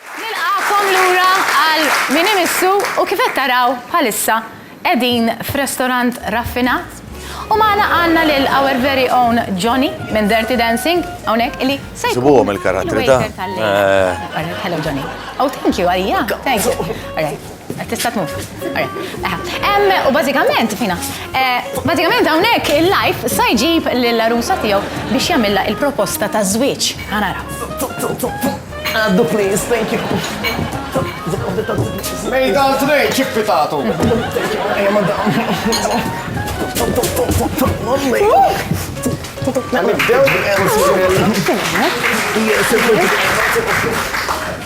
Nilqagħkom lura għal Min Imissu u kif qed taraw bħalissa qegħdin f'restorant raffinat u magħna għandna lil our very own Johnny minn Dirty Dancing hawnhekk illi se jkun Isibuhom il-karattri ta' il-waiter tal-lejla. All right, hello Johnny. Oh, thank you, għalija? Thank you. All right. Tista' tmur. U bażikament, fina, bażikament hawnhekk il-life sa jġib lill-għarusa tiegħu biex jagħmilha il-proposta ta' żwieġ. Ħa nara. Għaddu please, thank you. Mejda għal tnejn, ċippi tagħtu. Nibdew?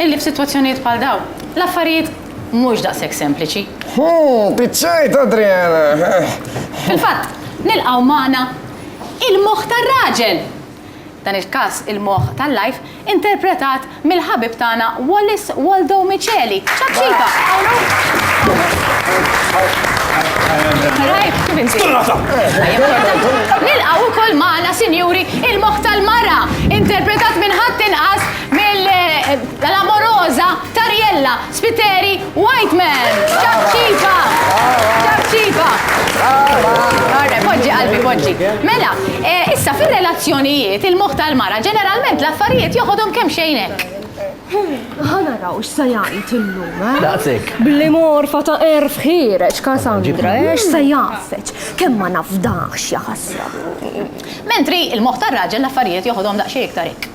Illi f'sitwazzjonijiet bħal dawn, l-affarijiet mhux daqshekk sempliċi. Hu, piċċajt, Adriana! Fil-fatt, nilqgħu magħna il-moħħ tar-raġel! Dan il-każ il-moħħ tal-life, interpretat mill-ħabib tagħna Wallis Waldo Miceli. Ċapċipa! Tajjeb, kif inti? Nilqgħu wkoll magħna, sinjuri, il-moħħ tal-mara, interpretat minn ħadd inqas Mill-amoroża Tariella Spiteri Whiteman. Ċapċipa! Ċapċipa! Marre, poġġi qalbi, poġġi. Mela, eh, issa fir-relazzjonijiet il-moħħ tal-mara ġeneralment l-affarijiet joħodhom kemm xejn hekk. Ħana raw x'sa jgħid illum, eh? Daqsek. Bli morfa ta' erf ħireġ Kasandra, eh? X'sa jgħafeġ? Kemm ma nafdax jaħasra. Mentri il-moħħ tar-raġel l-affarijiet joħodhom daqsxejn iktar hekk.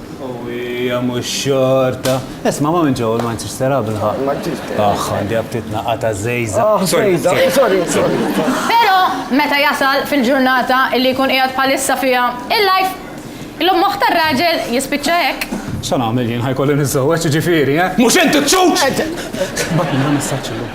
Hija mhux xorta. Isma' ma minn ġew ma nsirx sera bilħaq. Ma ġiex. Aħ, għandi apptit naqqa' ta' żejża. Ah, żejża. Sorry, sorry. Però meta jasal fil-ġurnata li jkun qiegħed bħalissa fiha il-life, illum moħħ tar-raġel jispiċċa hekk. X'għan nagħmel jien, ħa jkolli niżżewweġ jiġifieri, eh? Mhux int iċ-ċuċ! Bagħtilna messaġġ illum.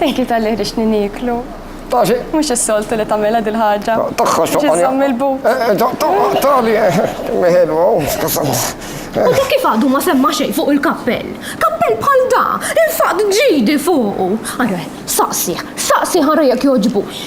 Thank you tal-li ħriġtni nieklu. Taxi. Mux s-soltu li tamela dil-ħagġa. Taxħa xoqqa. Ġizzom il-bu. Tali, meħelwa, skasam. U ta' kif għadu ma semma xej fuq il-kappell? Kappell bħal da, il-faqt ġidi fuqu. Għarre, saqsi, saqsi ħarra jek joġbux.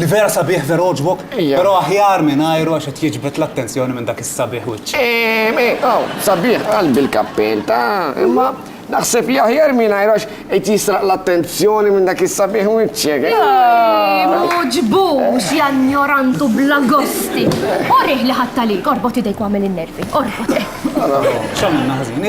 Li vera sabiħ vera għoġbok, però aħjar mingħajru għax qed jiġbed l-attenzjoni minn dak is-sabiħ wiċċ. Ehm, eh, oh, sabiħ qalbi l-kappell ta' imma naħseb li aħjar mingħajru għax qed jisraq l-attenzjoni minn dak is-sabiħ wiċċek. Uġbux, janjorantu bla gosti. Orih li ħatta li, orbot idejk għamil in-nervi, orbot. X'għamilna ħażin,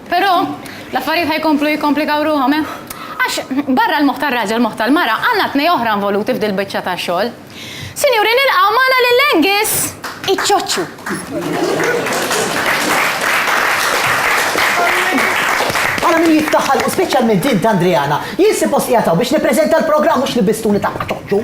Però, l-affarijiet ħa jkomplu jikkomplikaw ruħhom, eh? Għax, barra l-moħħ tar-raġel u l-moħħ tal-mara, għandna tnej oħra involuti f'dil-biċċa ta' xogħol. Sinjuri, nilqgħu magħna lil Angus iċ-ċoċċu! Ara min jiddaħħal, speċjalment int, Andriana. Jien suppost qiegħed hawn biex nippreżenta l-programm mhux libbistuni ta' ċoċċu.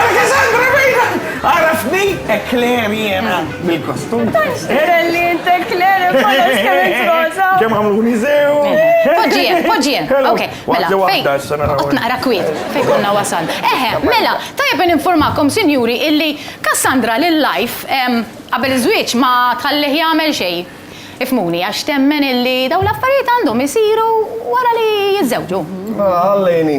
Alexandra Bejda! Għarafni ekler jena bil-kostum. Relli jint ekler bħala skemmet rosa. Kem għamlu nizew. Poġġien, poġġien. Ok, mela. Qot naqra kwiet. Fej konna wasan. Eħe, mela, tajab informakom, sinjuri, illi Cassandra l-lajf qabel iż-żwieġ ma tħallih jagħmel xej. Ifmuni, għax temmen illi daw l-affarijiet għandhom isiru wara li jiżżewġu. Għallejni.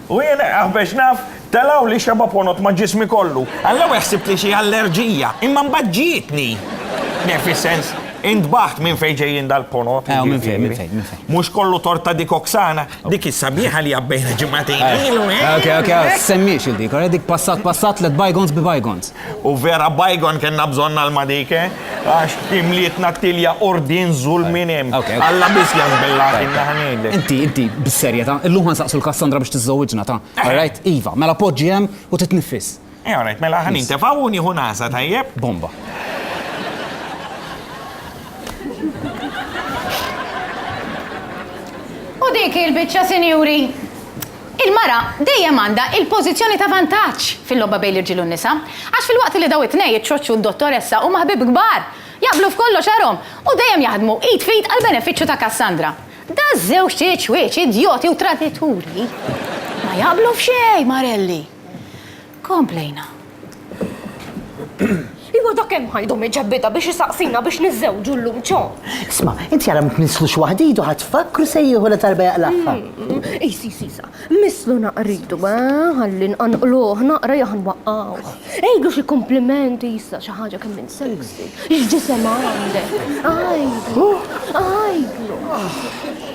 U jien, aħbex naf, telgħuli xebgħa ponot ma' ġismi kollu. Għall-ewwel ħsibt li xi allerġija, imma mbagħad ġietni. Le, fis-sens, intbaħt minn fejn ġejjin dal-ponot. Ew, minn fejn, minn fejn, minn fejn. Mhux kollu tort ta' dik Oksana, dik is-sabiħa li għabbejna ġimagħtejn ilu, eh? Okej, okej, semmiex il-dik, dik passat passat, let bygons be bygons. U vera bajgon kena bżonna l-madike, għax imlietna t-tilja ordin zulmin hemm. Alla biss jazbillati naħnejlek. Inti, inti, bis-serjetà, illum nsaqsu l-Kassandra biex tiżżewwiġna ta' rajt, iva, mela poġġi hemm u titniffis. All right, mela ħa nintefgħu u nieħu nagħża, tajjeb? Bomba. U dik il-biċċa, sinjuri, Il-mara dejjem għandha il-pożizzjoni ta' vantaġġ fil-logħba bejn l-irġiel u n-nisa, għax filwaqt li daw it-tnej, iċ-ċoċċ u d-dottoressa, huma ħbieb kbar, jaqblu f'kollox għarhom u dejjem jaħdmu id f'id għall-benefiċċju ta' Cassandra, daż-żewġt iċwieċ idjoti u tradituri ma jaqblu f'xejn, marelli. Komplejna. Iva dak hemm ħajdu miġebbidha biex isaqsina biex niżżewġu llum ċo. Isma', inti ara ma tnisslux waħd idu ħa tfakkru se jieħu la talba jaqlagħha. Qis qis qisha, misslu naqra idu, eh, ħalli nqanqluh naqra jew ħa nwaqqgħuh. Għidlu xi kumpliment issa xi ħaġa kemm int sexy. X'ġisem għandek. Għidlu, għidlu.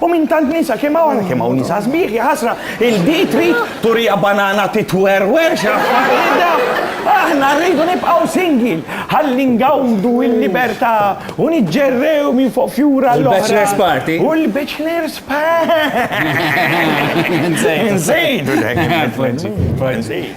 U minn tant nisa kemm hawn kemm hawn nisa sbieħ jaħasra il-di trid turija banana titwerwer x'affarida. Aħna rridu nibqgħu singil ħalli ngawdu l-libertà u niġġerrew minn fuq fjura l bachelor's party. U l-bachelor's party. Nżejdu dak.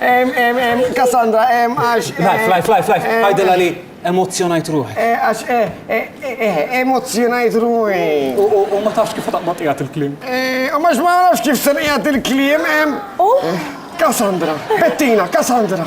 Em, em, em, Cassandra, em, għax. Eh, life, life, life, life. Eh, Għajdela li emozzjonajt ruħi. Eh, għax, emozzjonajt ruħi. U ma tafx kif taqbad qiegħed il-klim. U ma ma nafx kif ser qiegħed il-klim, em. Cassandra, Bettina, Cassandra.